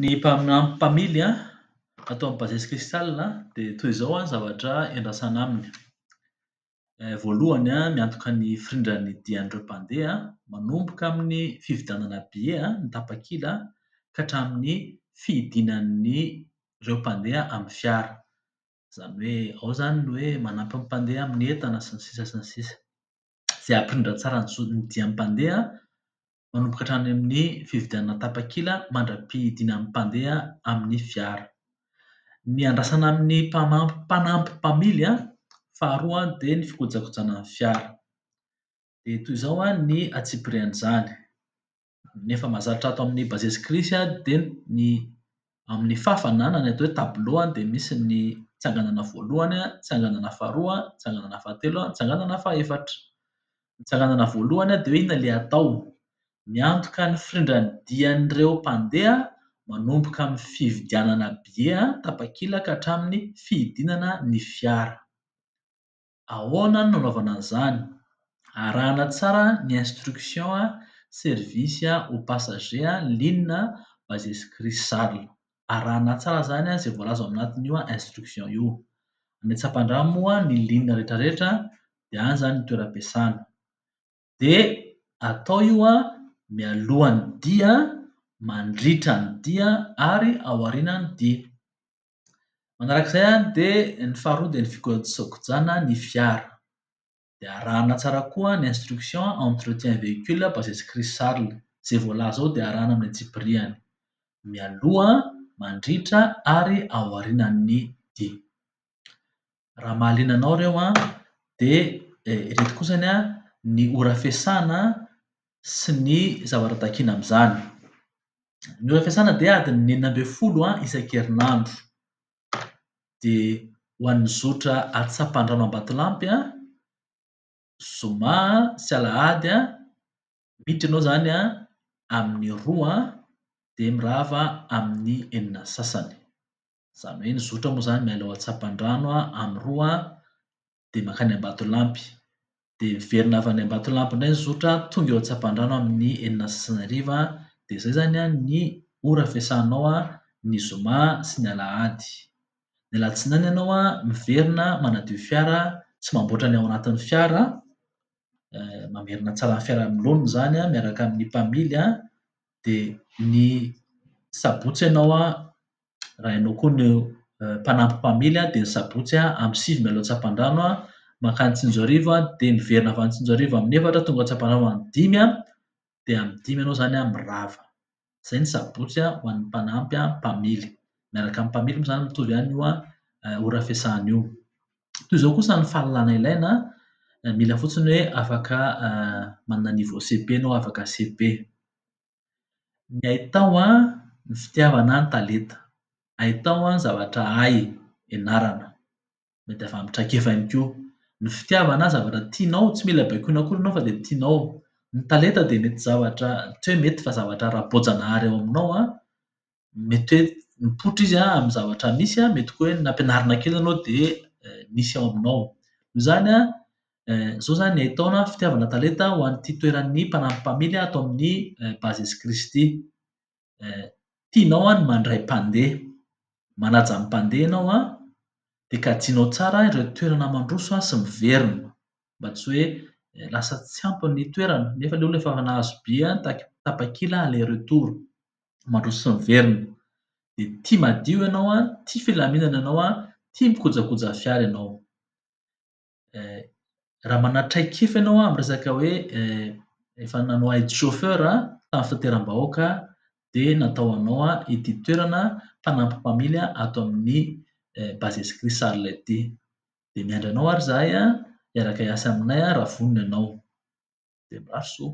Ny mpaminany mpamily an, ato amin'ny Bases Crystal an, dia toy izao an ny zavatra iandrasana aminy, voalohany an, miantoka ny firindran'ny dian'ireo mpandeha an, manomboka amin'ny fividianana billet an, ny tapakila an, ka hatramin'ny fidinan'ny ireo mpandeha amin'ny fiara. Izany hoe ao izany ny hoe manampy ny mpandeha amin'ny entana sy ny sisa sy ny sisa. Izay hampirindra tsara ny zo- ny dian'ny mpandeha manomboka hatrany amin'ny fividianana tapakila mandra-pihidiana ny mpandeha amin'ny fiara. Ny andrasana amin'ny mpamam- mpanampy mpamily an, faharoa dia ny fikojakojana ny fiara. Dia toy izao ny antsipirian'izany. Ny efa mahazatra ato amin'ny Bases Cris dia ny amin'ny fàfana na ny atao hoe tableau dia misy ny tsanganana voalohany, tsanganana faharoa, tsanganana fahatelo, tsanganana fahefatra. Ny tsanganana voalohany dia hoe inona ilay atao. Miantoka ny firindran'ny dian'ireo mpandeha manomboka amin'ny fividianana billets tapakila ka hatramin'ny fidinana ny fiara. Ahoana no nanaovana an'izany? Arahana tsara ny instruction service aux passagers ligne Bases Chris Charles. Arahana tsara izany izay voalaza ao anatin'io instruction io. Any Antsapandrano moa ny ligne rehetrarehetra dia any izany ny toeram-piasana. Dia atao io mialohan'ny dia, mandritra ny dia ary aorianan'ny dia. Manarak'izay an dia ny faharoa dia ny fikojakojana ny fiara. Dia arahana tsara koa ny instruction entretien véhicule basé sur crise charles. Izay voalaza ao dia arahana amin'ny antsipirihany. Mialoha, mandritra ary aorianan'ny dia. raha mahaliana anao ireo an, dia ireto kosa anie an ny ora fiasana sy ny zavatra takiana amin'izany. Ny ora fiasana dia adiny enina ambin'ny folo isan-kerinandro. Dia ho an'ny zotra atsampandrano Ambatolampy an, zoma sy alahady an, miditra ianao izany an amin'ny roa dia mirava amin'ny enina sy sasany. Izany hoe ny zotra moa izany miala ao an-tsampandrano amin'ny roa dia mankany Ambatolampy. Dia miverina avy any Ambatolampy indray ny zotra tonga eo an-tsampandrano amin'ny enina sy sasany hariva. Dia izay izany ny ora fiasanao ny zoma sy ny alahady. Ny alatsinainy ianao miverina manadio fiara sy mamboatra ny ao anatin'ny fiara, mamerina tsara ny fiara amin'ny laoniny izany miaraka amin'ny mpamily an, dia ny sabotsy ianao an. raha ianao koa no mpanampy mpamily dia ny sabotsy amin'ny sivy mialoha Antsapandrano mankany Tsinjoarivo dia miverina avy any Tsinjoarivo amin'ny efatra tonga Antsapandrano amin'ny dimy dia amin'ny dimy ianao izany mirava. Izay ny sabotsy ho an'ny mpanampy mpamily. Miaraka amin'ny mpamily moa izany mitovy ihany io ora fiasana io. Toy izao kosa ny fahalalana ilaina, mila fotsiny hoe afaka manana niveau CEP ianao afaka CEP. Ny hay tao an, ny fitiavana an, ny talenta. Hay tao an, ny zavatra hay ianarana. Mety avy amin'ny traikefa ihany koa. Ny fitiavana an, zavatra tianao, tsy mila baikoina akory ianao fa dia tianao. Ny talenta dia mety zavatra tsy hoe mety fa zavatra ara-boajanahary ao aminao an. mety hoe mipoitra izy an amin'ny zavatra misy an, mety koa hoe nampianarina kely ianao dia misy ao aminao. Noho izany an, izao izany ny haitaona an, fitiavana talenta ho an'ity toeran'ny mpanampy mpamily ato amin'ny Bases Crys ity. Tianao an ny mandray mpandeha, manaja ny mpandeha ianao an, dia kajianao tsara ireo toerana mandroso sy miverina mba tsy hoe lasa tsy ampy ny toerana, nefa ilay olona efa nahazo billet an, tapakila aller retour. mandroso sy miverina. Dia tia madio ianao an, tia filaminana ianao an, tia mikojakoja fiara ianao. Eh, raha manatraikefa ianao amin'ny resaka hoe eh, efa nanao aide chauffeur tamin'ny fitateram-bahoaka dia natao anao ity toerana mpanampy mpamily ato amin'ny eh, base escrit Sarla ity. Dia miandry anao ary zahay an, hiaraka hiasa aminay raha vonona ianao. Dia mirary soa.